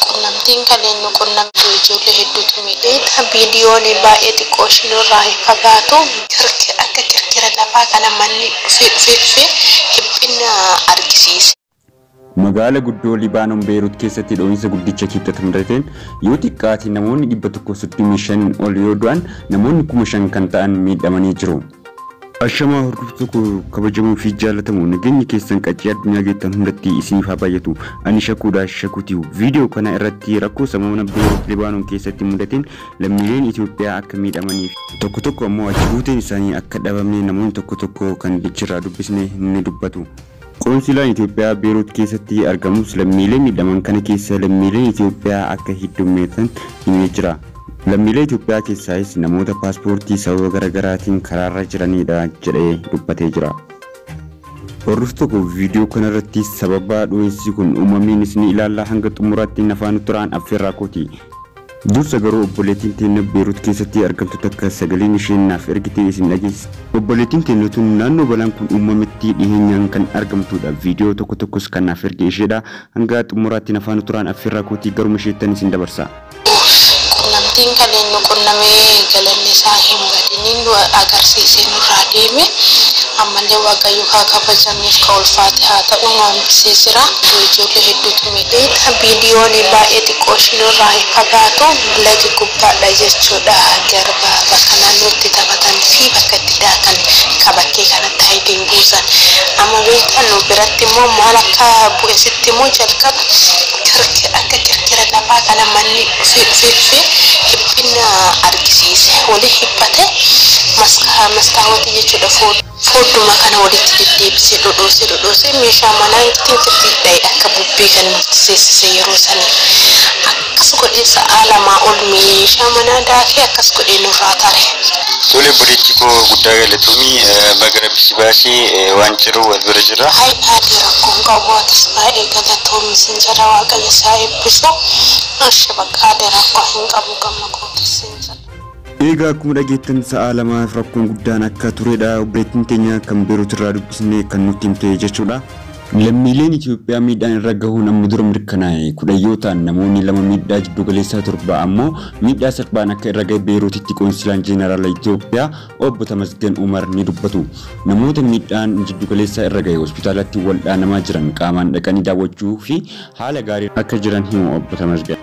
Qunnamtiin kaleen nu qunnamtu ijoollee hedduutu miidhe. Viidiyoon baay'ee xiqqoo ishii nurraa hin fagaatu. Akka kirkira lafaa kana manni dhufee dhufee dhufee dhiphinna argisiise. Magaala guddoo Libaanon Beerut keessatti dho'insa guddicha Kibxata mudateen yoo xiqqaate namoonni 135 ol yoo du'an namoonni 5,000 kan ta'an miidhamanii jiru. Ashamaa hordoftoota koo kabajamoo fi jaallatamoo nageenyi keessan qaccee addunyaa geettan hundatti isiniif haa baay'atu. Ani Shakuudha Shakuutiu. Viidiyoo kana irratti rakkoo sammuuna Beerut Libaanon keessatti mudateen lammiileen Itoophiyaa akka miidhamanii fi tokko tokko ammoo achi buuteen isaanii akka dhabame namoonni tokko tokko kan achirraa dubbisne ni dubbatu. Qoonsilaan Itoophiyaa Beerut keessatti argamus lammiilee miidhaman kana keessa lammiileen Itoophiyaa akka heddummeessan himee jira. Lammiilee Itoophiyaa keessaayis namoota paaspoortii sababa garagaraatiin karaarra jiraniidha jedhee dubbatee jira. Hordoftoota koo viidiyoo kanarratti sababa dho'insii kun uumameenis ni ilaalla hanga xumuraatti nafaana turaan affeerraa kooti. Dursa garuu obboleetiin teenna Beerut keessatti argamtu takka sagaleen isheen naaf ergite isin dhageessisa. Obboleetiin teenna tun naannoo balaan kun uummametti dhiheenyaan kan argamtuudha. Viidiyoo tokko tokkos kan naaf erge isheedha. Hanga xumuraatti na faana turaan affeerraa kootii garuma isheettan isin dabarsa. Uuff qunnamtiin kaleen nu qunname galanni isaa hin badini nu agarsiisee nurraa deeme ammallee waaqayyoof haa kabajamuu. Nuuf ka ulfaate haa ta'uu nu amansiisera. Yoo ijoollee hedduutu miidhee dha. Biiliyoonii baay'ee xiqqoo ishii nurraa hin fagaatu. Lagi gubbaa dha jechuu dha. Garba bakka naannoo itti taphatan fi bakka itti daatan ka bakkee kanatti Hayidiin buusan. Amma beektaa nu biratti immoo maal akka bu'e sitti himuu? Jalqaba kirkira akka kirkira lafaa kana manni dhufee dhufee dhufee dhiphinna argisiise. Waliin hiphate. Maskaawotii jechuu dha. Fuula. Foodduma kana walitti deddeebisee dhodhoosee dhodhoosee meeshaa manaa ittiin firdiif dha'e akka bubbee kan nutti seessise yeroo sanii. Akkas godhee sa'aa lamaa ol meeshaa manaa daakee akkas godhee nurraa tare. Tole obboleettii koo guddaa galatoomi. Baga Rabbi si baase waan jiru wal bira jirra. Hay aadee rakkoo hin qabu atis baay'ee galatoomi sin jedha waaqayyo si haa eebbisu. Eshi baqa aadee rakkoo hin qabu gamma kootis sin jedha. Eegaa akkuma dhageettan sa'aa lamaaf rakkoon guddaan akka turedha obboleettiin teenya kan Beerut irraa dubbisne kan nutti himte jechuudha. Lammiileen Itoophiyaa miidhaan irra gahuun amma dura mirkanaa'e kudhan yoo ta'an namoonni lama miidhaa jiddugaleessaa torba ammoo miidhaa salphaan akka irra gahe Beeruutitti Qoonsilaan Jeenaraala Itoophiyaa Obbo Tamasgen Umar ni dubbatu. Namoota miidhaan jiddugaleessaa irra gahe hospitaalatti waldhaanamaa jiran qaamaan dhaqanii daawwachuu fi haala gaariin akka jiran himu Obbo Tamasgen.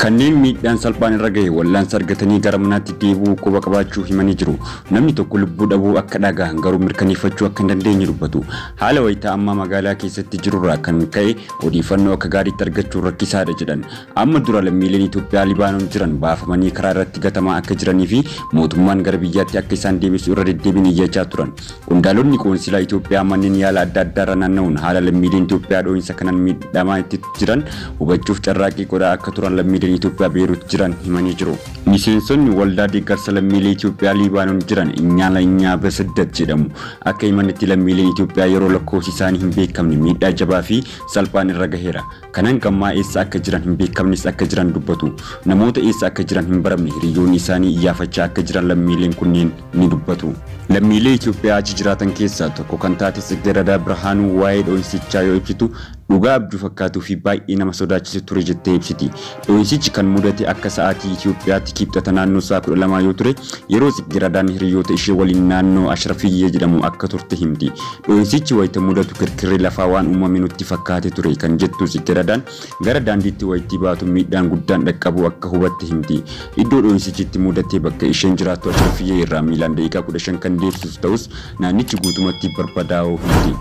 Kanneen miidhaan salphaan irra gahe wallaansa argatanii gara manaatti deebi'uu quba qabaachuu himanii jiru. Namni tokko lubbuu dhabuu akka dhagahan garuu mirkaneeffachuu akka hin dandeenye dubbatu. Haala wayita ammaa magaalaa keessatti jirurraa kan ka'e odeeffannoo akka gaariitti argachuun rakkisaadha jedhan. Amma dura lammiileen Itoophiyaa Libaanoon jiran baafamanii karaa irratti gatamaa akka jiranii fi mootummaan gara biyyaatti akka isaan deebisu irra deddeebiin iyyachaa turan. Qondaalonni qoonsilaa Itoophiyaa manneen yaala adda addaarra naanna'uun haala lammiileen Itoophiyaa dhoo'insa kanaan miidhamaa itti jiran hubachuuf carraaqqii godhaa akka turan lammiileen Itoophiyaa Beerut jiran himanii jiru. Miseensonni waldaa deeggarsa lammiilee Itoophiyaa Liibaanon jiran Inyaala Inyaa Besiddat jedhamu akka himanitti lammiileen Itoophiyaa yeroo lakkoofsi isaanii hin beekamne miidhaa jabaa fi salphaan irra gaheera. Kan hanga ammaa eessa akka jiran hin beekamnes akka jiran dubbatu. Namoota eessa akka jiran hin baramne hiriyyoonni isaanii iyyaafachaa akka jiran lammiileen kunneen ni dubbatu. Lammiilee Itoophiyaa achi jiraatan keessaa tokko kan taate Tsiggerada Birhaanuu waa'ee dho'insichaa yoo ibsitu Dhugaa abjuu fakkaatuu fi baay'ee nama sodaachisa ture jettee ibsiti. Dhoo'insichi kan mudate akka sa'aatii Itiyoophiyaatti Kibxata naannoo sa'a 12 yoo ture, yeroo Tsiggiradaan hiriyyoota ishee waliin naannoo Ashrafiyyee jedhamu akka turte himti. Dhoo'insichi wayita mudatu kirkirri lafaa waan uumame nutti fakkaate ture kan jettu Tsiggiradaan, gara daandiitti wayittii baatu miidhaan guddaan dhaqqabuu akka hubatte himti. Iddoo dhoo'insichi itti mudate bakka isheen jiraattu Ashrafiyyee irraa miilaan daqiiqaa 15 kan deemsisu ta'us, naannichi guutumatti barbadaa'uu himti.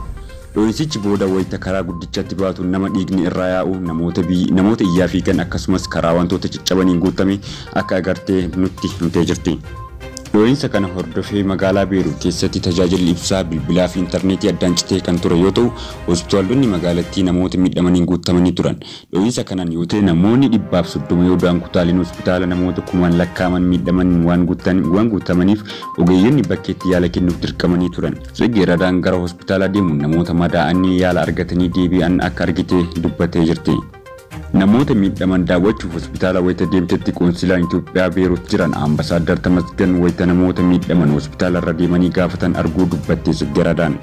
Dhoo'insichi booda wayita karaa guddichatti baatu nama dhiigni irraa yaa'u, namoota bi, namoota iyyaa fiigan akkasumas karaa wantoota caccabaniin guutame akka agarte nutti himtee jirti. Dhoo'insa kana hordofee magaalaa Beeruut keessatti tajaajilli ibsaa, bilbilaa fi interneetii addaan citee kan ture yoo ta'u, hospitaalonni magaalattii namoota miidhamaniin guuttamanii turan. Dhohiinsa kanaan yoo ta'e namoonni dhibbaaf soddoma yoo du'an kutaaleen hospitaala namoota kumaan lakkaa'aman miidhamaniin waan waan guutamaniif ogeeyyonni bakkeetti yaala kennuuf dirqamanii turan. Tsegge Radaan gara hospitaalaa deemuun namoota madaa'anii yaala argatanii deebi'an akka argite dubbattee jirti. Namoota miidhaman daawwachuuf hospitaala wayita deemtetti qoonsilaan Itoophiyaa Beerut jiran Ambasaaddar Tamasgan wayita namoota miidhaman hospitaalarra deemanii gaafatan arguu dubbatte Tsegge Radaan.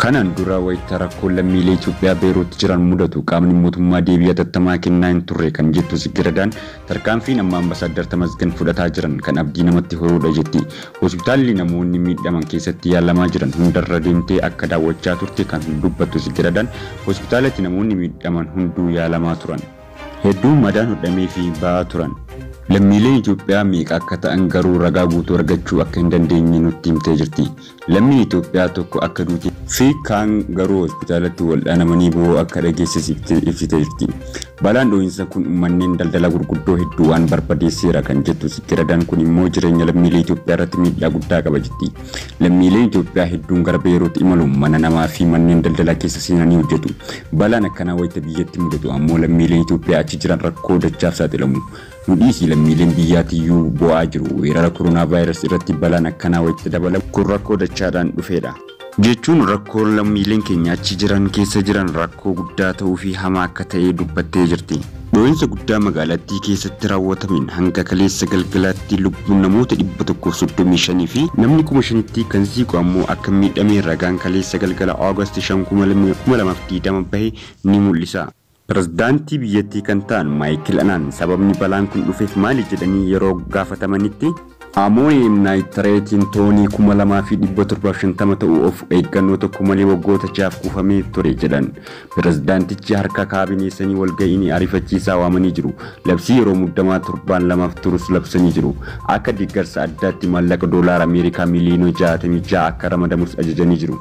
Kanaan dura wayita rakkoon lammiilee Itoophiyaa Beerut jiran mudatu qaamni mootummaa deebii hatattamaa kennaa hin turre kan jettu Tsiggiredaan, tarkaanfiin amma Ambasaaddar Tamasgen fudhataa jiran kan abdii namatti horuudha jetti. Hospitaalli namoonni miidhaman keessatti yaalamaa jiran hundarra deemtee akka daawwachaa turte kan dubbattu Tsiggiredaan, hospitaalatti namoonni miidhaman hunduu yaalamaa turan. Hedduun madaan hodhameefii ba'aa turan. Lammiileen Itoophiyaa meeqa akka ta'an garuu ragaa guutuu argachuu akka hin dandeenye nutti himtee jirti. Lammiin Itoophiyaa tokko akka duutee fi kaan garuu hospitaalatti waldhaanamanii bo'oo akka dhageessisifte ibsite jirti. Balaan dhohinsa kun manneen daldalaa gurguddoo hedduu waan barbadeesseera kan jettu Sitti Radaan kun immoo jireenya lammiilee Itoophiyaa irratti miidhaa guddaa qaba jetti. Lammiileen Itoophiyaa hedduun gara Beeruut imaluun mana namaa fi manneen daldalaa keessa seenanii hojjetu. Balaan akkanaa wayita biyyatti mudatu ammoo lammiileen Itoophiyaa achi jiran rakkoo dachaaf saaxilamu. Nu dhiisi lammiileen biyyaa tiyyuu boo'aa jiru. Weerara koronaavaayiras irratti balaan akkanaa wayitti dabalamu kun rakkoo dachaadhaan dhufeedha. Jechuun rakkoon lammiileen keenya achi jiran keessa jiran rakkoo guddaa ta'uu fi hamaa akka ta'e dubbattee jirti. Dhoo'insa guddaa magaalattii keessatti raawwatameen hanga kaleessa galgalaatti lubbuun namoota 135 fi namni 5,000tti kan siiqu ammoo akka miidhame ragaan kaleessa galgala August 5, 2020 bahe ni mul'isa. Pirezidaantii biyyattii kan ta'an Maayikil Anaan sababni balaan kun dhufeef maali jedhanii yeroo gaafatamanitti, Amooyeem naayitireetiin toonii 2,750 ta'u of eeggannoo tokko malee waggoota ja'aaf kuufamee ture jedhan. Pirezidaantichi harka kaabineesanii walga'ii ariifachiisaa waamanii jiru. Labsii yeroo muddamaa torbaan lamaaf turus labsanii jiru. Akka deeggarsa addaatti maallaqa doolaara Ameerikaa miliyoona 66 akka ramadamus ajajanii jiru.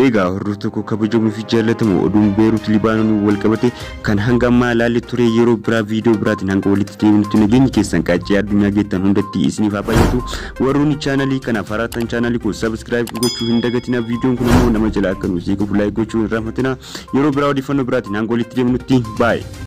Eegaa hordoftoota koo kabajamoo fi jaallatamoo oduun Beerut Libaanoniin wal qabate kan hanga ammaa ilaalle ture yeroo biraa viidiyoo biraatiin hanga walitti deebinutti nageenyi keessan qaccee addunyaa geettan hundatti isiniif haa baay'atu warroonni chaanalii kanaaf haraattan chaanalii koo sabiskiraayib gochuu hin dagatina viidiyoon kun ammoo nama jalaa akka nuuf seequuf laayik gochuu hin raaffatina yeroo biraa odeeffannoo biraatiin hanga walitti deebinutti baay'ee.